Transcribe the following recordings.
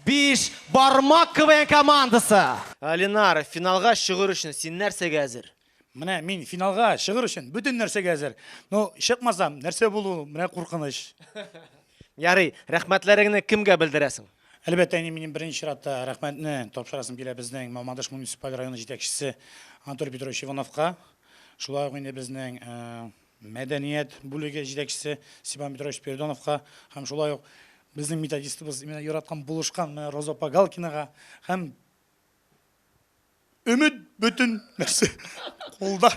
Биш бармак КВН командасы. Алинар, финалга чыгыр өчен син нәрсәгә әзер? Менә мин финалга чыгыр өчен бөтен нәрсәгә әзер. Ну, чыкмасам, нәрсә булу, менә куркыныч. Ярый, рәхмәтләреңне кемгә белдерәсең? Әлбәттә, инде минем беренче чиратта рәхмәтне тапшырасым килә безнең Мамадыш муниципаль районы җитәкчесе Анатолий Петрович Ивановка. Шулай ук инде безнең э, мәдәният бүлеге җитәкчесе Степан Петрович Спиридоновка һәм шулай ук безнең методистыбыз именно яраткан булышкан менә Роза Погалкинага һәм өмет бөтен нәрсә кулда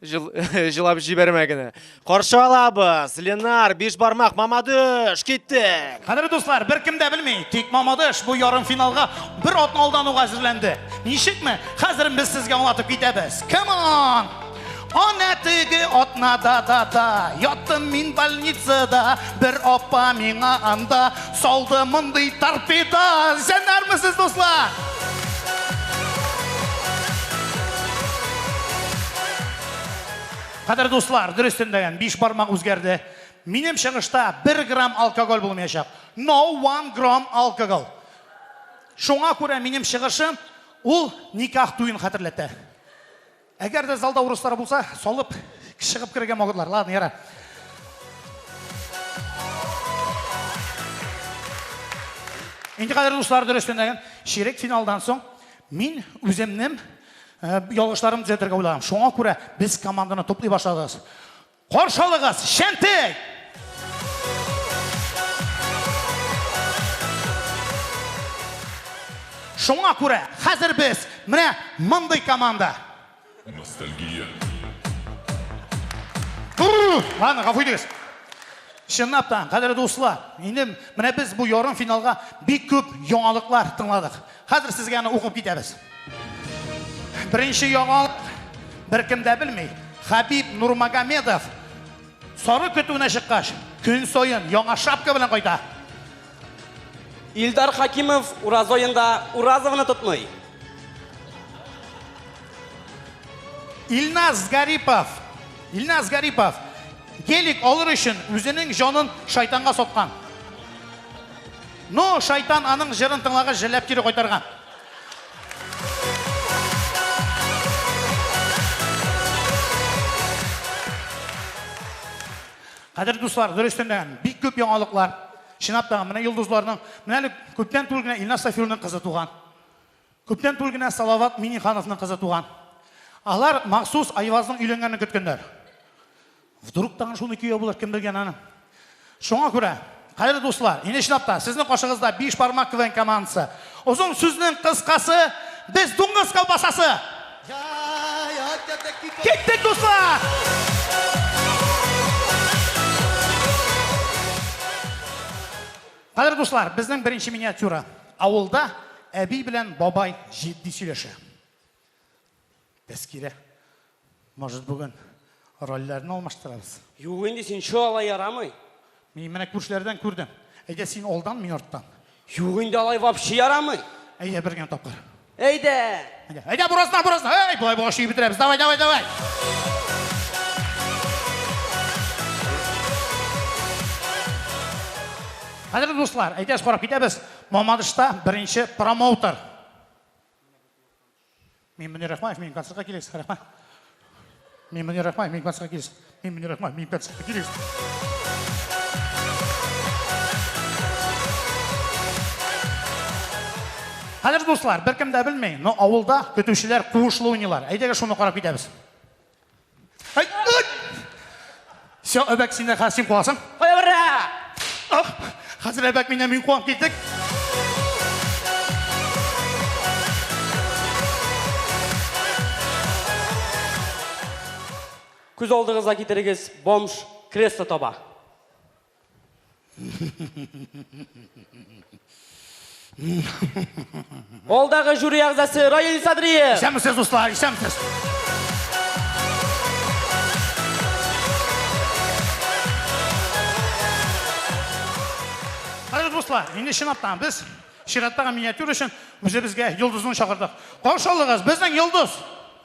Жыл, жылап җибәрмә генә. Каршы алабыз. Ленар, биш бармак, Мамадыш, киттек. Кадерле дуслар, бер кем дә белми, тик Мамадыш бу ярым финалга бер атналдан ук әзерләнде. Ничекме? Хәзер без сезгә аңлатып китәбез. Come on! Ана теге атнада да да Яттым мин больницада Бер апа миңа анда Салды мондый торпеда Җәнәрмесез, дуслар! Кадер дуслар, дөрестен дәгән, биш бармак үзгәрде. Минем чыгышта бер грамм алкоголь булмаячак. No one gram alcohol. Шуңа күрә минем чыгышым ул никах туен хәтерләтә. Әгәр дә залда урыслар булса, салып чыгып керергә могытлар. Ладно, яра. Инде кадәр дуслар дөрестеннән ширек финалдан соң мин үземнем э, ялгышларым төзәтергә уйлаган. Шуңа күрә без команданы туплый башладыгыз. Каршы алыгыз, Шәнтек! Шуңа күрә хәзер без менә мондый команда. Ностальгия. Ладно, гафу итегез. Чынлап та, кадерле дуслар, инде менә без бу ярым финалга бик күп яңалыклар тыңладык. Хәзер сезгә аны укып китәбез. Беренче яңалык беркем дә белми. Хабиб Нурмагомедов сары көтүенә чыккач, көн саен яңа шапка белән кайта. Илдар Хакимов ураз аенда Уразовны тотмый. Илназ Гарипов. Илназ Гарипов гелик алыр өчен үзенең җанын шайтанга саткан. Ну, шайтан аның җырын тыңлагач җәлләп кире кайтарган. Кадерле дуслар, дөрестән дә бик күп яңалыклар. Чынлап та, менә йолдызларның, менә әле күптән түгел генә Илназ Сафиуллинның кызы туган. Күптән түгел генә Салават Миннехановның кызы туган. Алар махсус Айвазның өйләнгәнен көткәннәр. Вдруг тагын шуны кияү булыр, кем белгән аны. Шуңа күрә, кадерле дуслар, ине чынлап та, сезнең каршыгызда биш бармак КВН командасы. Озын сүзнең кыскасы, без дуңгыз колбасасы. Киттек, дуслар! Кадерле дуслар, безнең беренче миниатюра. Авылда әби белән бабай җитди сөйләшә. Тәскирә. Может бүген рольләрне алмаштырабыз? Юк инде син чо алай ярамый. Мин менә күршеләрдән күрдем. Әйдә син алдан, мин арттан. Юк инде алай вообще ярамый. Әйдә бер генә тапкыр. Әйдә. Әйдә, әйдә буразна, буразна. Әй, болай булгач чөеп бетерәбез. Давай, давай, давай. Кадерле дуслар, әйдәгез карап китәбез. Мамадышта беренче промоутер. Мин Мөнир Рахмаев, мин концертка килегез, рәхмәт. Мин Мөнир Рахмаев, мин концертка килегез. Мин Мөнир Рахмаев, мин концертка килегез. Хәзер дуслар, беркем дә белми, но авылда көтүчеләр куышлы уйныйлар. Әйдәгез шуны карап китәбез. Все, Әбәк, син дә хәсин куасың. Кая бара? Ах, хәзер Әбәк миннән мин куам килдек. Күз алдыгызга китерегез, бомж кресло таба. Алдагы жюри әгъзасы Раил Садриев. Исәнмесез, дуслар, исәнмесез. Хәзер дуслар, инде чынлаптан без чираттагы миниатюр өчен үзебезгә йолдызны чакырдык. Каршы алыгыз, безнең йолдыз!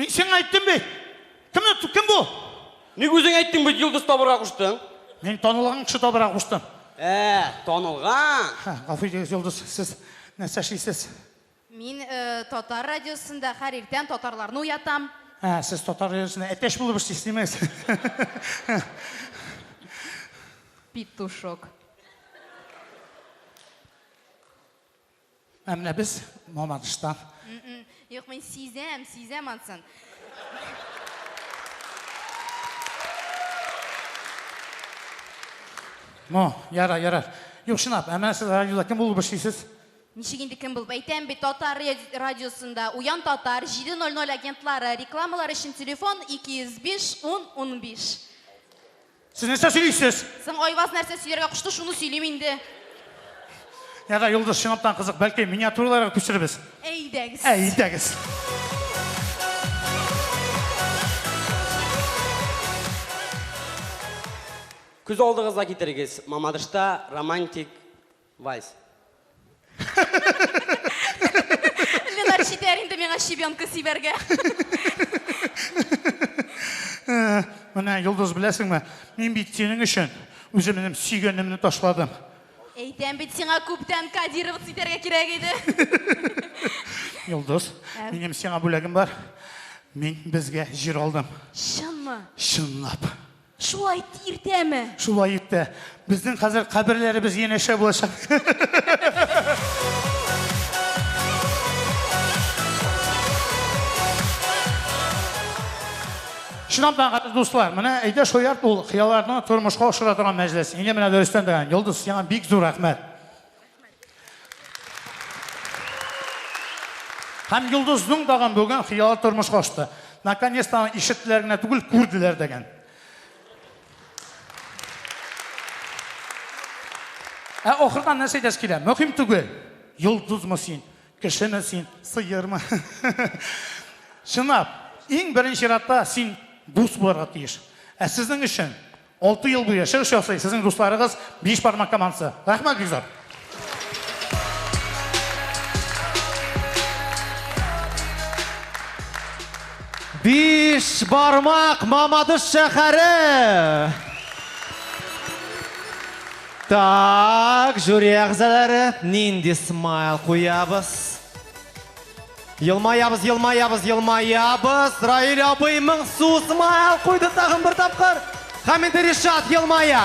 Мин сиңа әйттем бит! Кем, кем бу? Ник үзең әйттең бит, йолдыз табырга куштың? Мин танылган кеше табырга куштым. Ә, танылган. Ха, гафу итегез, йолдыз, сез нәрсә эшлисез? Мин э, татар радиосында һәр иртән татарларны уятам. Ә, сез татар радиосында әтәч булып эшлисез, димәс. Петушок. Ә менә без Мамадыштан. Юк, мин сизәм, сизәм ансын. Ну, яра, яра. Юк, чынлап, ә менә сез радиода кем булып эшлисез? Ничек инде кем булып әйтәм бит, татар радиосында Уян татар 700 агентлары рекламалар өчен телефон 205 10 15. Сез нәрсә сөйлисез? Соң Айваз нәрсә сөйләргә кушты, шуны сөйлим инде. Я да Юлдыз чынлаптан кызык, бәлки миниатюраларга күчерербез? Әйдәгез. Әйдәгез. Күз алдыгызга китерегез, Мамадышта романтик Вальс. Ленар читәр инде миңа щебенка сибәргә. Менә, Йолдыз, беләсеңме, мин бит синең өчен үземнем сөйгәнемне ташладым. Әйтәм бит сиңа, күптән Кадировац итәргә кирәк иде. Йолдыз, минем сиңа бүләгем бар. Мин безгә җир алдым. Чынмы? Чынлап. Шулай иртәме? Шулай иртә. Безнең хәзер каберләребез янәшә булачак. Чынлап та, гади дуслар, менә әйдә шаярт ул хыялларны тормышка ашыра торган мәҗлес. Инде менә дөрестән дә, Йолдыз, сиңа бик зур рәхмәт. Һәм Йолдызның тагын бүген хыялы тормыш кашты. Наконец-то аны ишеттеләр генә түгел, күрделәр дәгән. Ә ахырдан нәрсә әйтәсе килә? Мөһим түгел. Йолдызмы син? Кешеме син? Сыермы? Чынлап, иң беренче чиратта син дус булырга тиеш. Ә сезнең өчен Алты ел буе чыгыш ясый сезнең дусларыгыз Биш бармак командасы. Рәхмәт бик зур. Биш бармак Мамадыш шәһәре. Так, жюри әгъзалары нинди смайл куябыз? Елмаябыз, елмаябыз, елмаябыз. Раиль абый моңсу смайл куйды тагын бер тапкыр. Һәм инде Ришат елмая.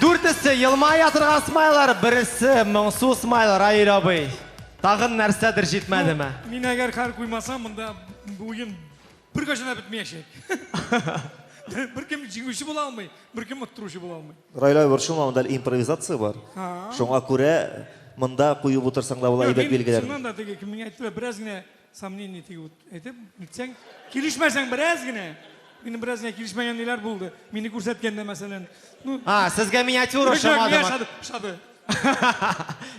Дүртесе елмая торган смайлар, бересе моңсу смайл Раиль абый. Тагын нәрсәдер җитмәдеме? Мин әгәр хәл куймасам, монда уен Беркайчан да бетмәячәк. Беркем җиңүче була алмый, беркем оттыручы була алмый. Райла борчылма, монда импровизация бар. Шуңа күрә монда куеп утырсаң да була әйбәт билгеләр. Шуннан да теге кем миңа әйтте, бераз генә сомнение тигеп әйтеп, нитсәң, килешмәсәң бераз генә. Минем бераз генә килешмәгән ниләр булды. Мине күрсәткәндә, мәсәлән, ну, А, сезгә миниатюра ошамадымы? Шады.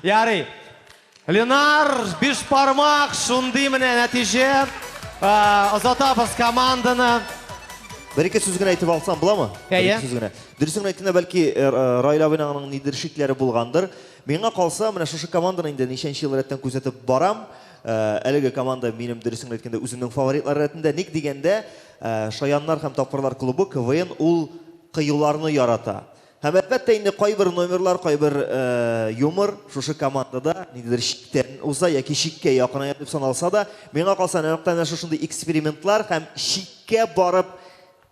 Ярый. Ленар, биш пармак, шундый менә нәтиҗә. Озатабыз команданы. Бер-ике сүз генә әйтеп алсам буламы? Әйе. Сүз генә. Дөресен генә әйткәндә, бәлки э, э, Раил абыйның нидер шикләре булгандыр. Миңа калса, менә шушы команданы инде ничәнче ел рәттән күзәтеп барам. Э, әлеге команда минем дөресен генә әйткәндә үземнең фаворитлар рәтендә. Ник дигәндә, Шаяннар һәм тапкырлар клубы КВН ул кыюларны ярата. Һәм әлбәттә инде кайбер номерлар, кайбер юмор шушы командада ниндидер чиктән уза яки чиккә якыная дип саналса да, миңа калса нәкъ менә шушындый экспериментлар һәм чиккә барып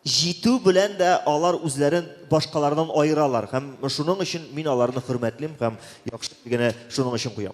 җитү белән дә алар үзләрен башкалардан аералар һәм шуның өчен мин аларны хөрмәтлим һәм яхшы генә шуның өчен куям.